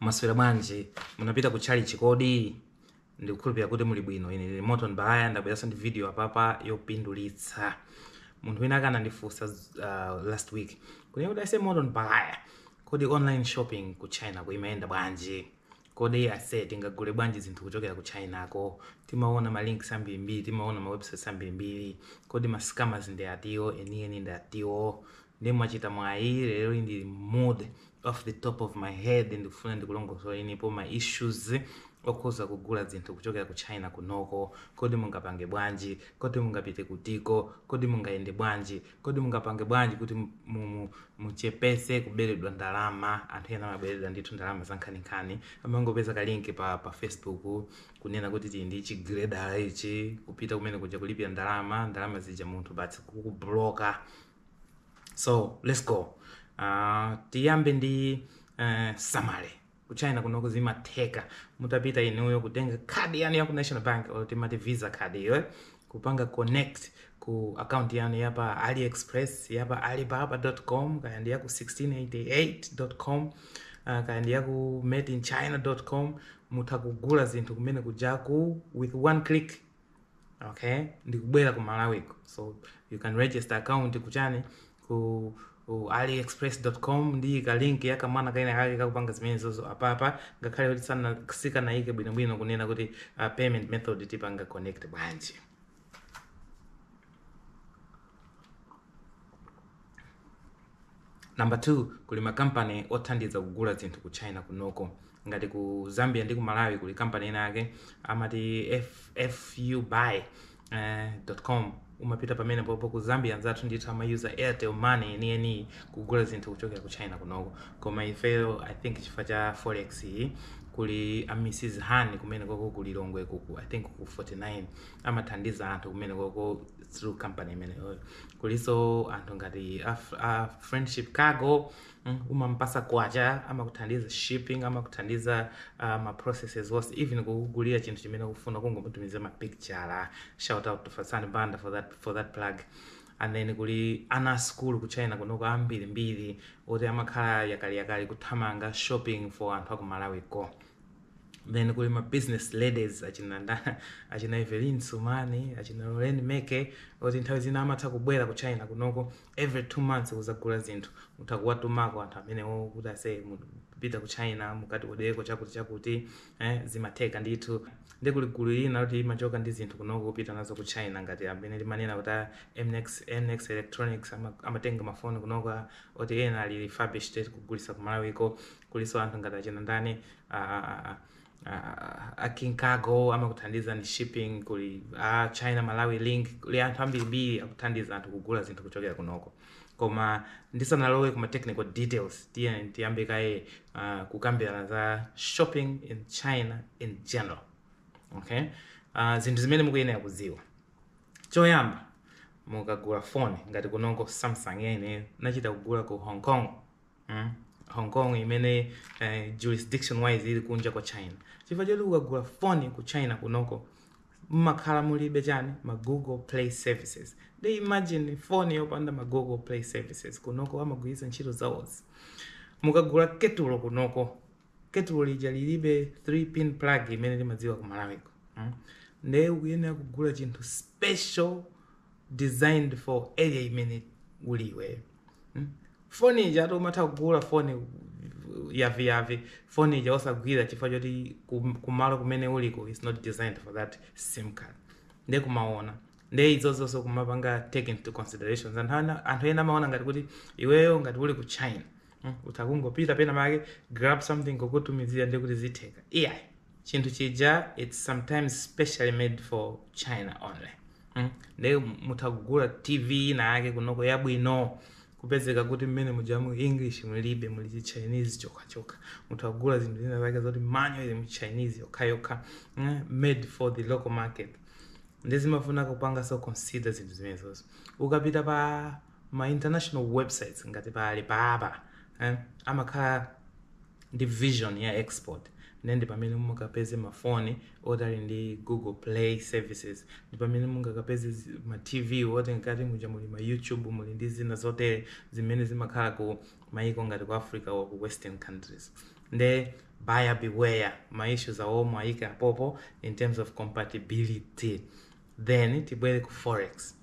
maswera bwanji munapita ku chalichi kodi ndikukhulupirira kuti muli bwino ine ndili moto mbaya ndabweranso ndi video apapa yopindulitsa munthu wina wake anandifunsa uh, last week kuti ase moto mbaya kodi online shopping ku china kuimayenda bwanji Kodi aseh tingagule bwanji zinthu kuchokera ku China ko? Timaona ma links ambirimbiri, timaona ma websites ambirimbiri. Kodi ma scammers ndi atiwo, enieni ndi atiwo? Nde mwachita mwayi leroli ndili mu mood, off the top of my head ndikufuna ndikulongosolenipo ma issues okhuza kugula zinthu kuchokera ku China kunoko. Kodi mungapange bwanji? Kodi mungapite kutiko? Kodi mungayende bwanji? Kodi mungapange bwanji kuti mu- mu- mu- muchepese kuberedwa ndalama? Anthu ena amaberedwa ndithu ndalama zankhaninkhani, amangopeza kalinki pa, pa Facebook kunena kuti tili ndi chigiredala ichi, kupita kumene kuja kulipira ndalama, ndalama zija munthu basi kukubloka. So let's go. Uh, tiyambe ndi uh, summary. Ku China kunoku zimatheka mutapita inuyo kutenga khadi yanu ya ku National Bank or timati Visa card iyo kupanga connect ku account yanu ya pa AliExpress ya pa alibaba.com kaya ndi ya ku 1688.com uh, kaya ndi ya ku madeinchina.com mutha kugula zinthu kumene kujaku with one click okay ndikubwera ku malawiko so you can register account kuchani ku ku aliexpress.com ndiyika link ya kamwana kena kake kakapanga zimenezozo apapa ngakhale kuti sana- sikanayike bwinobwino kunena kuti uh, payment method tipanga connect bwanji Number 2 kuli makampani othandiza kugula zinthu ku China kunoko ngati ku Zambia ndi ku Malawi kuli kampani ina yake amati F- fubuy eh,.com umapita pamene popo ku Zambia anzathu ndithu amayuza Airtel money yeniyeniyi kugula zinthu kuchokera ku China kunoko koma ifeyo I think chifukwa cha forex iyi kuli a Mrs Han kumene koko ku Lilongwe kuku I think ku 49 amathandiza anthu kumene koko through company imeneyoyo kulinso anthu ngati a, f- a friendship cargo mm, umampasa kwacha amakuthandiza shipping amakuthandiza uh, ma processes onse even kukugulira chinthu chimene ukufuna kungomutumiza mapicture shout out to fasani banda for that, for that plug and then kuli ana a school ku china kunoko ambirimbiri oti amakhala yakaliyakali kuthamanga shopping for anthu aku malawi ko Then kuli ma business ladies achina ndani achina Evelyn Sumani achina Lorraine Meke oti nthawi zina amatha kubwera ku China kunoko every two months kuzagula zinthu mutha kuwatumako anthu amenewo kuti ase mukapita ku China mukatiodereko chakuti chakuti eh, zimatheka ndithu ndi kuli gulu lina loti limachoka ndi zinthu kunoko kupita nazo ku China ngati amene limanena kuti a MX, MX Electronics ama- amatenga mafoni kunoko a- oti ena ali refurbished kugulisa ku Malawiko kuliso anthu ngati achina ndani ah, ah, a King Cargo amakuthandiza ndi shipping kuli a China Malawi link kuli anthu ambirimbiri akuthandiza anthu kugula zinthu kuchokera kunoko koma ndisanalowe kuma technical details tiye tiyambe kaye uh, kukambirana za shopping in China in general okay uh, zinthu zimene mukuyenera kudziwa choyamba mukagula foni ngati kunoko samsung ineyo nachita kugula ku hong kong mm? hong kong imene eh, jurisdiction wise ili kunja kwa china chifukwa choti ukagula foni ku china kunoko mmakhala mulibe chani ma google play services they imagine foni yopanda ma google play services kunoko amagwiritsa ntchito zawo zi mukagula ketulo kunoko ketulo lija lilibe 3 pin plug imene limadziwa ku malawiko mm? nde ukuyenera kugula chinthu special designed for area imene uli iweyo mm? foni ija eti umatha kugula foni yaviyavi foni ija osagwira chifukwa choti kum- kumalo kumene uliko is not designed for that sim card nde kumaona nde izozonso kumapanga take into considerations anthu ana- anthu ena amaona ngati kuti iweyo ngati uli ku china mm, utha kungopita penapake grab something kukutumizira ndi kuti zitheka iyayi chinthu chija its sometimes specially made for china only mm? nde mutha kugula tv ina yake kunoko yabwino kupezeka kuti mmene muja mu english mulibe muli chi chinese chokhachokha mutha kugula zinthu zina zake zoti manual ili mu chinese yokhayokha mm? made for the local market nde zimafuna kupanga so consider zinthu zimenezozo ukapita pa ma international websites ngati pa alibaba eh, amakhala ndi version ya export ndiye ndi pamene mungapeze mafoni oti ali ndi google play services ndi pamene mungakapeze zi- ma tv oti mkati muja muli ma youtube muli ndi zina zotere zimene zimakhala ku maiko ngati ku africa or ku western countries nde buyer beware ma issues awo muwaike apopo in terms of compatibility then tibwere ku forex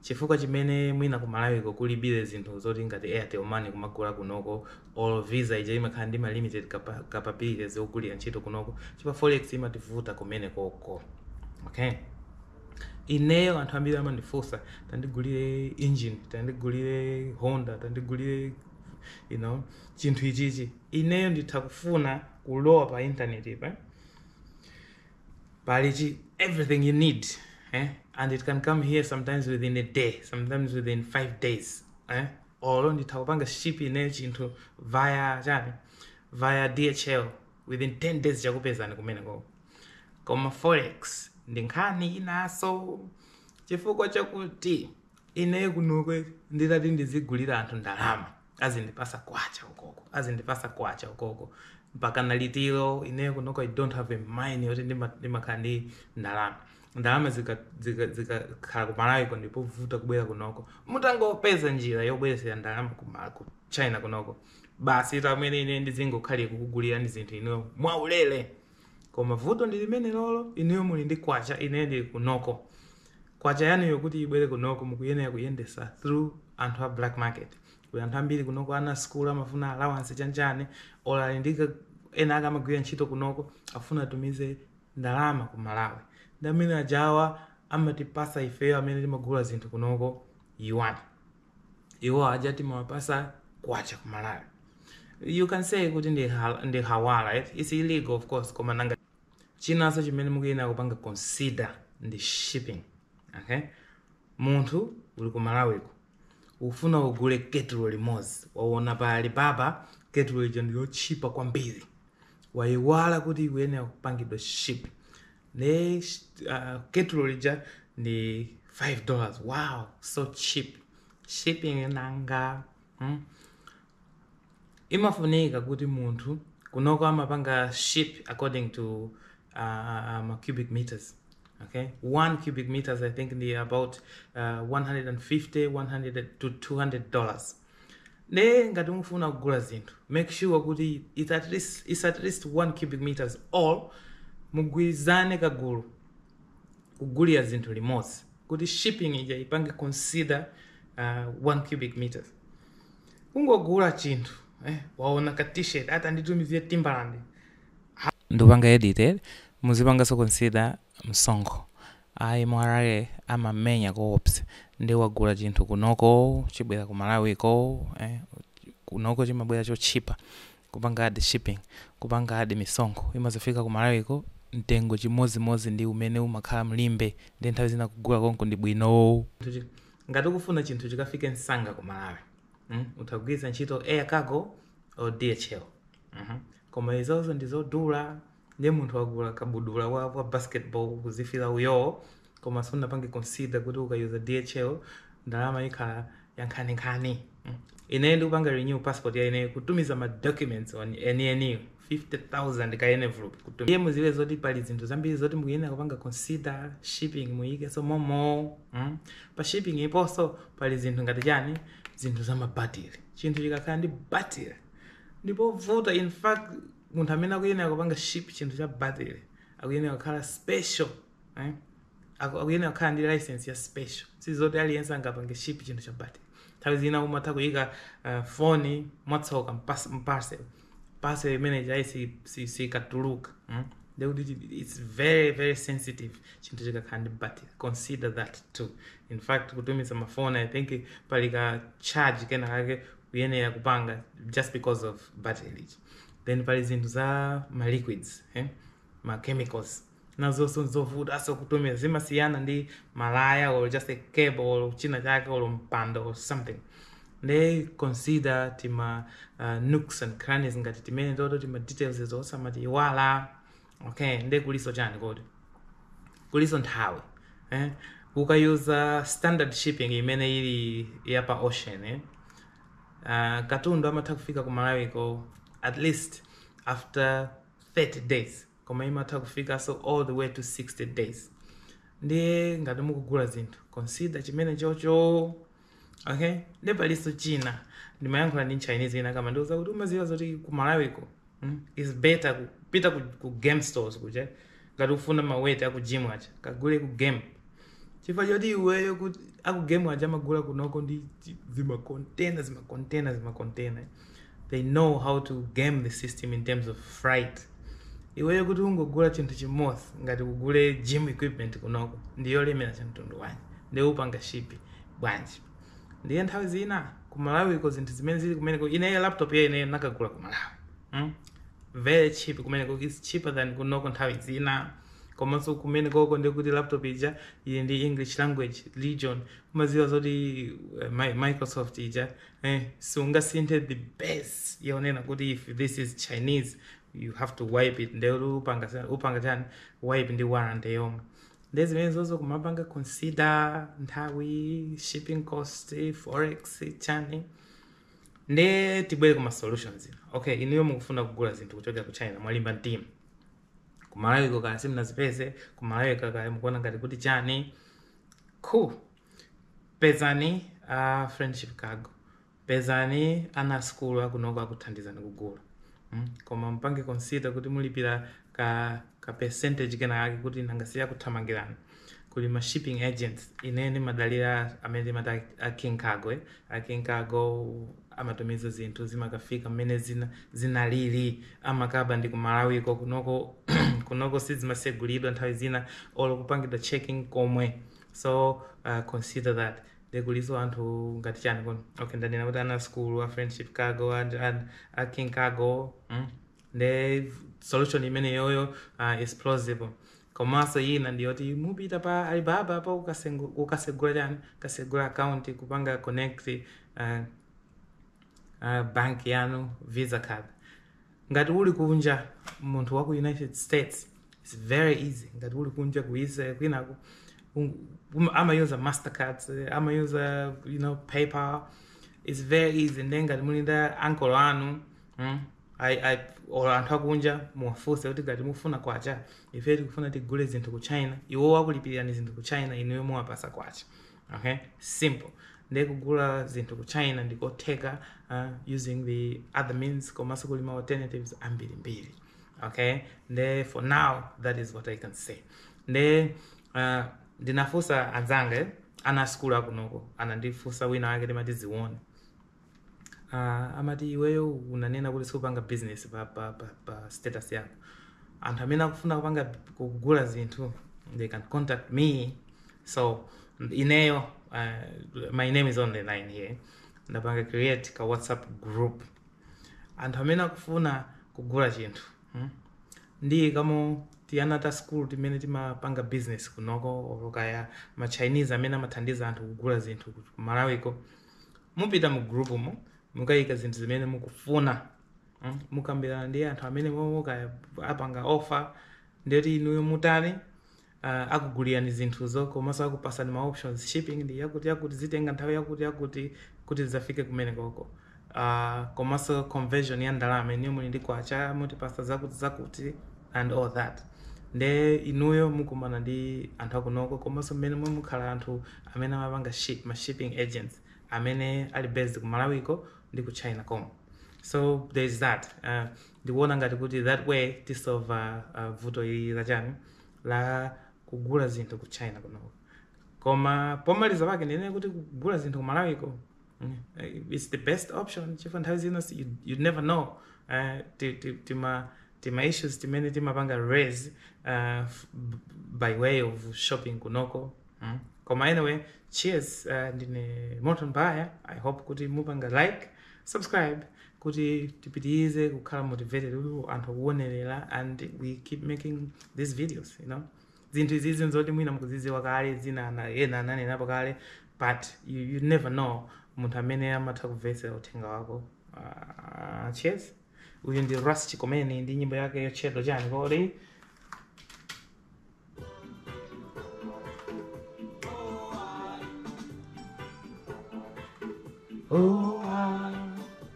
chifukwa chimene mwina ku malawiko kulibire zinthu zoti ngati airtel money kumagula kunoko or visa ija imakhala ndi ma limited capa- capabilities yogwirira ntchito kunoko chifukwa forex imativuta kumene koko okay ineyo anthu ambiri amandifunsa tandigulire engine tandigulire honda tandigulire you know chinthu ichichi ineyo nditha kufuna kulowa pa intaneti pa pali chi- everything you need eh? and it can come here sometimes within a day sometimes within five days eh? olo nditha kupanga ship ine chinthu via chani via dhl within 10 days chakupezani kumene koko koma forex ndi nkhani inaso chifukwa chakuti ineyo kunokwe nditati ndizigulira anthu ndalama azindipasa kwacha ukoko azindipasa kwacha ukoko mpaka liti ineyo kunoko i don't have a mind yoti ndima- ndimakhala ndi ndalama ndalama zikakhala zika, zika zikakhala ku malawi ko ndi povuta kubwera kunoko mutangopeza njira yobweresera ndalama ku Ma- ku china kunoko basi m'mene ine ndizingokhalira kukugulirani zinthu ineyo mwaulere Koma vuto ndi limenelolo inuyo muli ndi kwacha ineyo ndili kunoko kwacha yanuyo kuti ibwere kunoko mukuyenera kuyendesa through anthu a black market kuli anthu ambiri kunoko ana a school amafuna allowance chanchani or ali ndi ka- ena ake amagwira ntchito kunoko afuna atumize ndalama ku malawi ndi amene ajawa amatipasa ifeyo amene timagula zinthu kunoko yuan iwo aja timawapasa kwacha ku malawi you can say kuti ndi, hal, ndi hawala eh? its illegal of course koma nanga chinanso chimene mukuyenera kupanga consider ndi shipping okay munthu uli ku malawiko ufuna kugule ketulo limodzi waona pa alibaba ketulo lija ndi lotchipa kwambiri wayiwala kuti ikuyenera kupangidwa ship nde uh, ketulo lija ndi 5 dollars wow so cheap shipping nanga hmm? imafunika kuti munthu kunoko amapanga ship according to uh, ma cubic meters okay one cubic meters i think ndi about uh, 150 to 200 dollars Nde ngati mufuna kugula zinthu make sure kuti it's at least, it's at least 1 cubic meters or mugwirizane kagulu kugulira zinthu limodzi kuti shipping ija ipange consider uh, 1 cubic meters kungogula chinthu eh, waona ka t-shirt ati nditumizire timbalandi ndikupanga edited muzipanganso consider msonkho Ayi mra amamenya oops nde wagula chinthu kunoko chibwere ku malawi ko eh kunoko chimabwera chotchipa kupanga add shipping kupanga add misonkho imazafika ku malawiko mtengo chimodzimodzi ndi umene umakhala mu Limbe nde nthawi zina kugula konko ndi bwinoo ngati ukufuna chinthu chikafike msanga ku malawi mm utha kugwiritsa ntchito air cargo or dhl mm koma izozo ndizodula ndiye munthu wagula kabudula wa, wa basketball kuzifila uyoo koma sunapange consider kuti ukayuza dhl ndalama imakhala yankhaninkhani Mm. ineyo ndikupanga renew passport ya ineyo kutumiza ma documents only eni eniwo 50000 ka envelope kutum- ndiye muziwe zoti pali zinthu zambiri zoti mukuyenera kupanga consider shipping muyikenso momo mm. pa shipping aponso pali zinthu ngati chani zinthu za mabatiri chinthu chikakhala ndi batiri ndi povuta in fact munthu amene akuyenera kupanga ship chinthu cha battery akuyenera kukhala special eh? Aku- akuyenera kukhala ndi license ya special sizoti aliyense angapange ship chinthu cha battery nthawi zina umatha kuyika uh, foni mwatsoka mu pas- mu parcel parcel imene ija si- si- sikatuluka mm? ndekuti chi- its very very sensitive chinthu chikakhala ndi battery consider that too in fact kutumiza mafoni i think pali ka charge kena kake kuyenera kupanga just because of battery then pali zinthu za ma liquids eh? ma chemicals nazonso nzovutanso kutumiza zimasiyana ndi malaya or just a cable or china chake or mpando or something they consider tima uh, nooks and crannies ngati timene toto tima details izo osamaziiwala okay nde kulinso chani kodi kulinso nthawi eh? ukayuza standard shipping imene ili ya pa ocean eh? uh, katundu amatha kufika ku malawiko at least after 30 days koma imatha kufikanso all the way to 60 days ndiye ngati mukugula zinthu consider chimene chocho Okay, nde palinso china ndimayankhula ndi mchinese inayake amandiuza kuti umaziwa zoti ku malawiko mm, is better kupita ku, ku game stores kuja ngati ukufuna maweti aku gym aja kagule ku game chifukwa choti iweyo kuti aku game aja amagula kunoko ndi chi- zimakontena zimakontena zimakontena they know how to game the system in terms of freight iweyo kuti ungogula chinthu chimodzi ngati kugula gym equipment kunoko ndiyolemera ya mtundu wanji ndiye upanga ship bwanji ndiye nthawi zina ku malawiko zinthu zimene zili kumeneko ineyo laptop ya ineyo nakagula ku malawi mm? very cheap kumeneko is cheaper than kunoko nthawi zina komanso kumenekoko ndikuti laptop ija ili ndi english language region umaziwa zoti uh, Mi- microsoft ija eh, siungasinthe the base yonena kuti if this is chinese you have to wipe it nde upanga sa- upanga chani wipe ndi warranty yomwe nde zimenezozo kumapanga consider nthawi shipping cost forex chani nde tibwere kuma solutions ina okay inuyo mukufuna kugula zinthu kuchokera ku china mwalimba mtima kumalawiko kaya simunazipeze kumalawiko kaya mukuona ngati kuti chani cool pezani a friendship cargo pezani ana asukulu akunoko akuthandizani kugula mm? koma mupange consider kuti mulipira ka, ka percentage kenakake kuti nanga si akuthamangirani kuli ma shipping agents ine ndimadalira amene timati a- a king cargo eh? a king cargo amatumiza zinthu zimakafika mmene zina, zinalili amakapandi kumalawiko kunoko kunoko sizimasegulidwa nthawi zina olo kupangidwa checking komwe so uh, consider that ndikuliso anthu ngati chani kuno okay ndanena kuti ana a school a friendship cargo and, and a king cargo mm? nde solution imeneyoyo uh, is plausible komanso ina ndiyoti mupita pa alibaba pa ukasengu- ukasegula chani ukasegula account kupanga connect uh, uh, bank yanu visa card ngati uli kunja munthu wa ku united states its very easy ngati uli kunja ku israel kwinako um- um- amayuza mastercards eh, amayuza you know paypal its very easy nde ngati muli ndi ankolo anu mm, I, I, or anthu akunja muwafunse kuti ngati mufuna kwacha ife tikufuna tigule zinthu ku china iwo akulipirani zinthu ku china inuyo muwapasa kwacha okay simple ndiye kugula zinthu ku china ndi kotheka uh, using the other means komanso kuli ma alternatives ambirimbiri okay nde for now that is what i can say nde uh, ndinafunsa anzanga eh, ana a skulu akunoko anandifunsa wina wake timati Zione Uh, amati iweyo unanena kuti siupanga business pa, pa, pa, pa status yako anthu amene akufuna kupanga kugula zinthu they can contact me so ineyo uh, my name is on the line ye ndapanga create ka whatsapp group anthu amene akufuna kugula chinthu hmm? ndi ka motiyana ta school timene timapanga business kunoko or kaya ma chinese amene amathandiza anthu kugula zinthu ku malawiko mupita mu groupmo mukayika zinthu zimene mukufuna mm, mukambirana ndi anthu amene momwemo kaya apanga offer ndiyoti inuyo mutani uh, akugulirani zinthuzo komanso akupasani ma options shipping ndi yakuti yakuti zitenga nthawi yakuti yakuti kuti zidzafike kumenekoko uh, komanso conversion ya ndalama inuyo muli ndi kwacha mutipasa zakuti zakuti and all that nde inuyo mukumana ndi anthu akunoko komanso mmenemo mukhala anthu amene amapanga ship ma shipping agents amene ali based ku malawiko ndi ku china komko so there is that uh, ndikuona ngati kuti that way tisova uh, vuto ili la kugula zinthu ku china kunoko koma pomaliza pake ndinene kuti kugula zinthu ku malawiko Mm, eh, it's the best option chifukwa nthawi zina si- you, you never know uh, ti- ti- tima tima issues timene timapanga raise uh, f- b- by way of shopping kunoko mm. koma anyway cheers uh, ndine morton baya i hope kuti mupanga like subscribe kuti tipitirize kukhala motivated kuti anthu akuonerera and we keep making these videos you know zinthu izizi nzoti mwina mukuzidziwa kale zina ana- ena ananenapo kale but you, you never know munthu amene amatha kumvetsera uthenga wako uh, cheers uyu ndi ras chikomeni ndi nyimbo yake yotchedwa chani kodi oh, I